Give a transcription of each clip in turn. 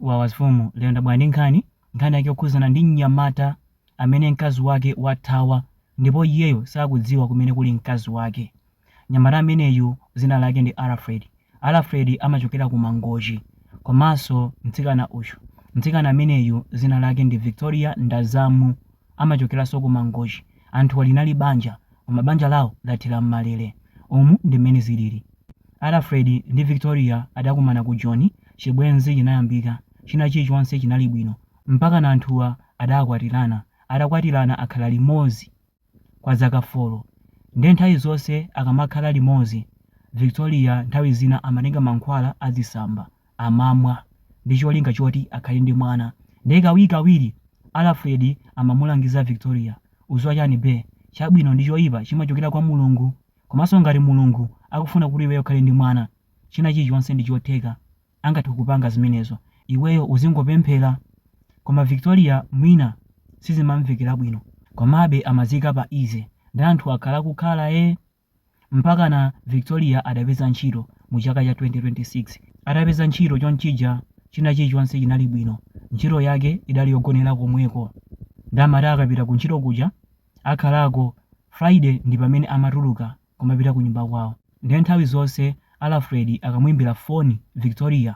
Wawa amfumu lero ndabwera ndi nkhani, nkhani yake yokhudzana ndi mnyamata amene mkazi wake wathawa ndipo iyeyo sakudziwa kumene kuli mkazi wake. Mnyamata ameneyu dzina lake ndi Alfred. Alfred amachokera ku Mangochi. Komanso mtsikana uyu, mtsikana ameneyu dzina lake ndi Victoria Ndazamu amachokeranso ku Mangochi. Anthuwa linali banja koma banja lawo lathera m'malele. Umu ndi mmene zilili. Alfred ndi Victoria adakumana ku Joni, chibwenzi chinayambika, china chilichonse chinali bwino mpakana anthuwa adakwatirana. Atakwatirana akhala limodzi kwa zaka folo nde nthawi zonse akamakhala limodzi Victoria nthawi zina amatenga mankhwala azitsamba. amamwa ndi cholinga choti akhale ndi mwana nde kawirikawiri Alfred amamulangiza Victoria, udziwa chani bee, chabwino ndi choipa chimachokera kwa Mulungu komanso ngati Mulungu akufuna kuti iweyo ukhale ndi mwana china chilichonse ndi chotheka angathe kupanga zimenezo iweyo uzingopemphera koma Victoria mwina sizimamvekera bwino komabe amaziika pa easy nde anthu akhala akukhala ee Mpakana Victoria adapeza ntchito mu chaka cha 2026. Atapeza ntchito chonchija china chilichonse chinali bwino. Ntchito yake idali yogonera komweko. Nde amati akapita ku ntchito kuja akhalako, Friday ndi pamene amatuluka kumapita kunyumba kwawo. Nde nthawi zonse Alfred akamuimbira foni Victoria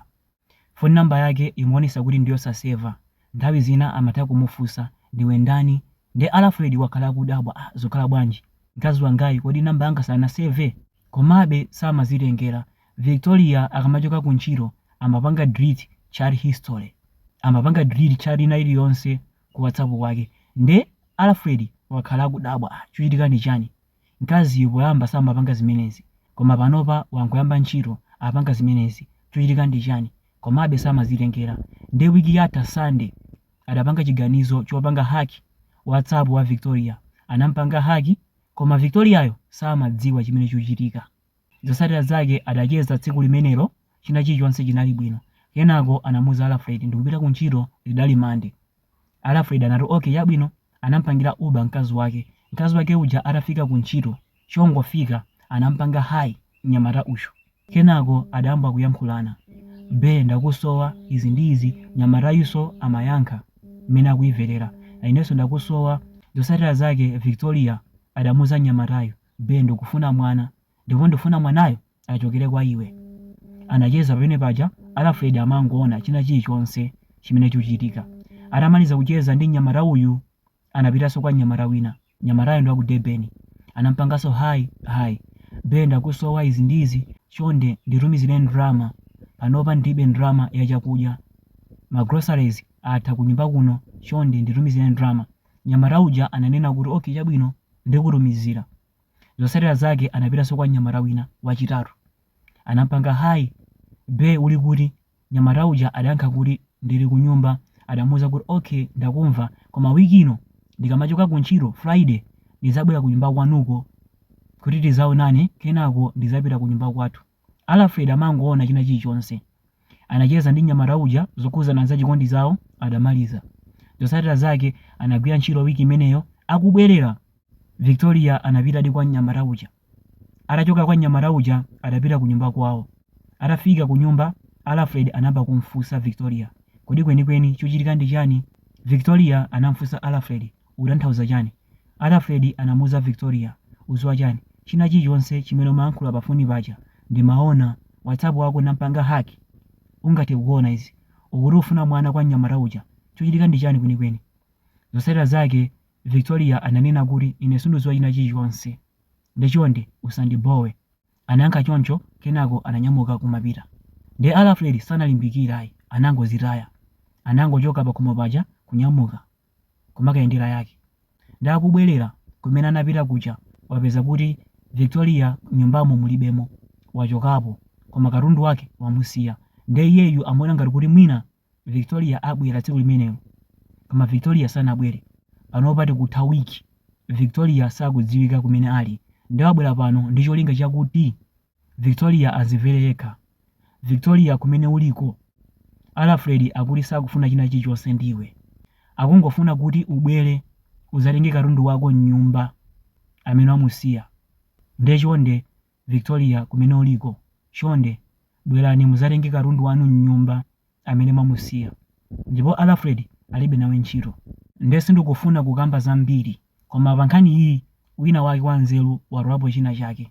Phone number yake imaonesa kuti ndiyosaseva, nthawi zina amatha kumufunsa ndiwe ndani nde Alfred wakhala akudabwa ah zukhala bwanji mkazi wangayu kodi number yanga sanaseve? Komabe samazitengera, Victoria akamachoka ku ntchito amapanga delete chat history, amapanga delete chat ina iliyonse ku whatsapp kwake nde Alfred wakhala akudabwa ah chikuchitika ndi chani? Mkaziyu poyamba samapanga zimenezi, koma panopa wangoyamba ntchito apanga zimenezi, chochitika ndi chani? Komabe samazitengera. Nde week yatha Sunday adapanga chiganizo chopanga hack WhatsApp wa Victoria. Anampanga hack koma Victoriayo samadziwa chimene chikuchitika. Zotsatira zake adacheza tsiku limenelo china chilichonse chinali bwino. Kenako anamuuza Alfred ndikupita kuntchito lidali Monday. Alfred anati, Ok, chabwino, anampangira Uber mkazi wake. Mkazi wake uja atafika ku ntchito, chongofika, anampanga Hi mnyamata uyu. Kenako adayamba kuyankhulana. Be, ndakusowa, izi ndi izi, mnyamatayunso amayankha mmene akuyimverera. Inenso ndakusowa. Zotsatira zake Victoria adamuuza mnyamatayu, Be, ndikufuna mwana. ndipo ndikufuna mwanayo achokere kwa iwe. Anacheza pamene paja Alfred amangoona china chilichonse chimene chikuchitika. Atamaliza kucheza ndi mnyamata uyu, anapitanso kwa mnyamata wina. Mnyamatayo ndi wa ku Durban. Anampanganso hi hi. Be ndakusowa izi ndi izi, chonde nditumizire ndalama. Panopa ndilibe ndalama ya chakudya. Ma groceries atha kunyumba kuno, chonde nditumizire ndalama. Mnyamata uja ananena kuti okay chabwino ndikutumizira. Zotsatira zake anapitanso kwa mnyamata wina, wachitatu. Anampanga Hi, be uli kuti? Mnyamata uja adayankha kuti ndili kunyumba. Adamuuza kuti ok ndakumva koma week ino ndikamachoka kuntchito, Friday, ndidzabwera kunyumba kwanuko kuti tidzaonane kenako ndidzapita kunyumba kwathu. Alfred amangoona china chilichonse. Anacheza ndi mnyamata uja zokhudzana za chikondi chawo adamaliza. Zotsatira zake anagwira ntchito week imeneyo akubwerera. Victoria anapitadi kwa mnyamata uja. Atachoka kwa mnyamata uja adapita kunyumba kwawo. Atafika kunyumba, Alfred anayamba kumfunsa Victoria, Kodi kwenikweni chuchitika ndi chani? Victoria anamfunsa Alfred, Ukutanthauza chani? Alfred anamuuza Victoria, Uziwa chani? China chilichonse chimene umayankhula pa foni paja ndimaona. Whatsapp wako ndampanga hack. Ungathe kuona izi. Ukuti ufuna mwana kwa mnyamata uja. Chuchitika ndi chani kwenikweni? Zotsatira zake Victoria ananena kuti, Ine sinduziwa china chilichonse. Nde chonde, usandibhowe. Anayankha choncho, kenako ananyamuka kumapita. Nde Alfred sanalimbikire ayi, anangozitaya. Anangochoka pakhomo paja kunyamuka kumakayendera yake. Nde akubwelera kumene anapita kuja, wapeza kuti Victoria mnyumbamo mulibemo. Wachokapo, koma katundu wake wamusiya. Nde iyeyu amaona ngati kuti mwina Victoria abwera tsiku limenelo. Koma Victoria sanabwere. Panopa tikutha week, Victoria sakudziwika kumene ali. Nde wabwera pano ndi cholinga chakuti Victoria azimvere yekha. Victoria kumene uliko, Alfred akuti sakufuna china chilichonse ndi iwe. Akungofuna kuti ubwere udzatenge katundu wako m'nyumba amene wamusiya. Nde chonde Victoria kumene uliko chonde bwelani muzatenge katundu wanu mnyumba amene mwamusiya ndipo Alfred alibe nawe ntchito nde sindikufuna kukamba zambiri koma pankhani iyi wina wake wanzeru watolapo china chake.